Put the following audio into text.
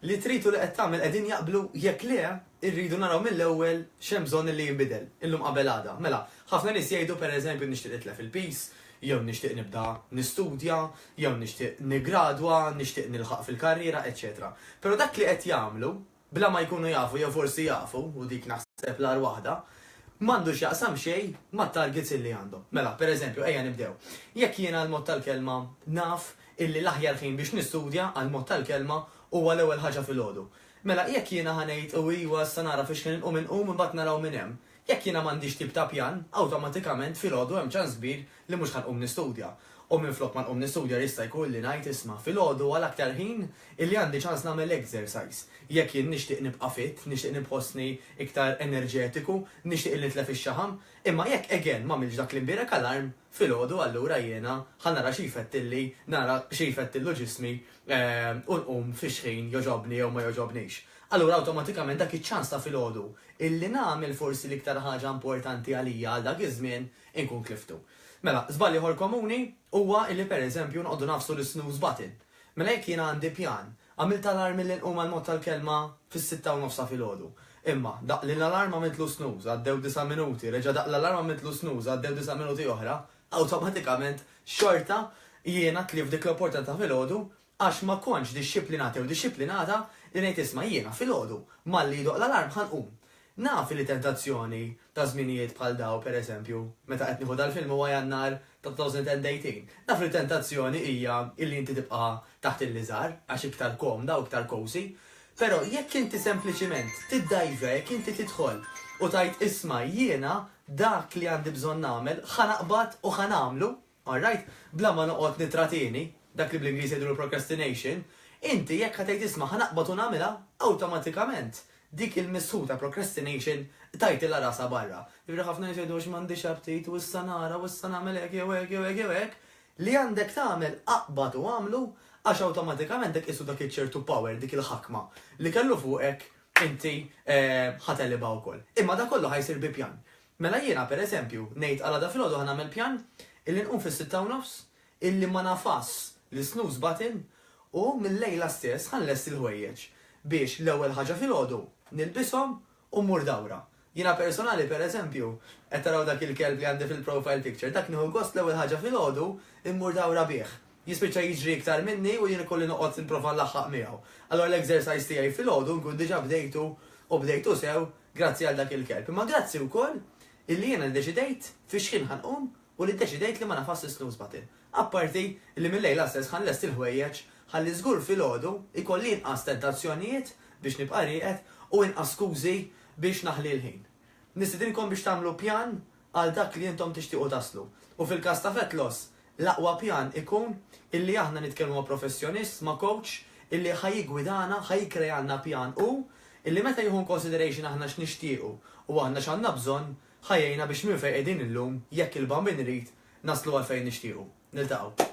li trid u li qed tagħmel qegħdin jaqblu, jekk le, irridu naraw mill-ewwel x'hemm bżonn illi jinbidel, illum qabel għada. Mela, ħafna nies jgħidu, pereżempju, nixtieq nitlef il-piż, jew nixtieq nibda nistudja, jew nixtieq niggradwa, nixtieq nilħaq fil-karriera, eċċetera Però dak li qed jagħmlu, bla ma jkunu jafu jew forsi jafu, u dik naħseb l-agħar waħda, m'għandu x'jaqsam xejn mat-targets illi għandhom. Mela, per eżempju, ejja nibdew. Jekk jiena għall-mod tal-kelma naf illi l-aħjar ħin biex nistudja, għall-mod tal-kelma, huwa l-ewwel ħaġa filgħodu. Mela, jekk jiena ħa ngħid u iwa issa nara fiex ħin inqum inqum imbagħad naraw minn hemm. Jekk jiena m'għandix tip ta' pjan, awtomatikament filgħodu hemm ċans kbir li mhux ħa nqum nistudja, u minflok ma nqum nistudja jista' jkun li ngħid isma' filgħodu għal aktar ħin illi għandi ċans nagħmel exercise. Jekk jien nixtieq nibqa' fit, nixtieq nibħossni iktar enerġetiku, nixtieq illi nitlef ix-xaħam, imma jekk again m'għamiltx dak li mbierek alarm, filgħodu allura jiena ħa nara xi jfettilli, nara xi jfettillu ġismi u nqum fix ħin jogħġobni jew ma jogħġobnix. Allura awtomatikament dak iċ-ċans ta' filgħodu illi nagħmel forsi l-iktar ħaġa importanti għalija għal dak iż-żmien inkun tliftu. Mela, żball ieħor komuni huwa illi pereżempju noqogħdu nagħfsu l-snooze button. Mela jekk jiena għandi pjan, għamilt alarm illi nqum għall-mod tal-kelma fis-sitta u nofs ta' filgħodu. Imma, daqq lill-alarm għamiltlu snooze, għaddew disa' minuti, reġa' daqq l-alarm għamiltlu snooze, għaddew disa' minuti oħra, awtomatikament xorta jiena tlift dik l-opportunità ta' filgħodu Għax ma kontx dixxiplinat jew dixxiplinata li ngħid isma' jiena filgħodu, malli jidoqq l-alarm ħa nqum. Naf li tentazzjoni ta' żminijiet bħal dawn, per eżempju, meta qed nieħu dal-film huwa Jannar ta' 2018, naf li tentazzjoni hija illi inti tibqa' taħt il-liżar għax iktar komda u iktar cosy. Però jekk inti sempliċiment tiddajġa, jekk inti tidħol u tgħid isma' jiena dak li għandi bżonn nagħmel ħa naqbad u ħa nagħmlu, All right, bla ma noqgħod nittratieni, dak li bl-Ingliż jgħidulu procrastination, inti jekk ħa tgħid isma' ħa naqbad u nagħmilha, awtomatikament dik il-missħu ta' procrastination tajtilha rasha barra. Jiġifieri ħafna nies jgħidu għax m'għandix aptit u issa nara u issa nagħmel hekk jew hekk jew hekk jew hekk, li għandek tagħmel aqbad u agħmlu għax awtomatikament dak qisu dak iċ-ċertu power, dik il-ħakma li kellu fuqek inti ħa telibha wkoll. Imma dak kollu ħa jsir bi pjan. Mela jiena, per eżempju, ngħid għal għada filgħodu ħa nagħmel pjan illi nqum fis-sitta u nofs, illi ma nagħfasx l-snooze button u mil-lejla stess ħa nlesti l-ħwejjeġ biex l-ewwel ħaġa filgħodu nilbishom u mmur dawra. Jiena personali, per eżempju, qed taraw dak il-kelb li għandi fil-profile picture, dak nieħu gost l-ewwel ħaġa filgħodu mmur dawra bih. Jispiċċa jiġri iktar minni u jien ikolli noqgħod nipprova nlaħħaq miegħu. Allura l-exercise tiegħi filgħodu nkun diġà bdejtu u bdejtu sew grazzi għal dak il-kelb. Imma grazzi wkoll illi jiena ddeċidejt fix-xħin ħa nqum u li ddeċidejt li ma nafasx is-snooze button. Apparti li mil-lejla stess ħa nlesti l-ħwejjeġ ħalli żgur filgħodu jkolli inqas tentazzjonijiet biex nibqa' rieqed u inqas skużi biex naħli l-ħin. Nistidinkom biex tagħmlu pjan għal dak li intom tixtiequ taslu. U fil-każ ta' Vetlos, l-aqwa pjan ikun illi aħna nitkellmu ma' professjonist, ma' coach, illi ħa jiggwidana, ħa jikkrealna pjan hu, illi meta jieħu in consideration aħna x'nixtiequ u aħna x'għandna bżonn, ħa jgħinna biex minn fejn qegħdin illum, jekk il-Bambin irid, naslu għal fejn nixtiequ. Niltaqgħu.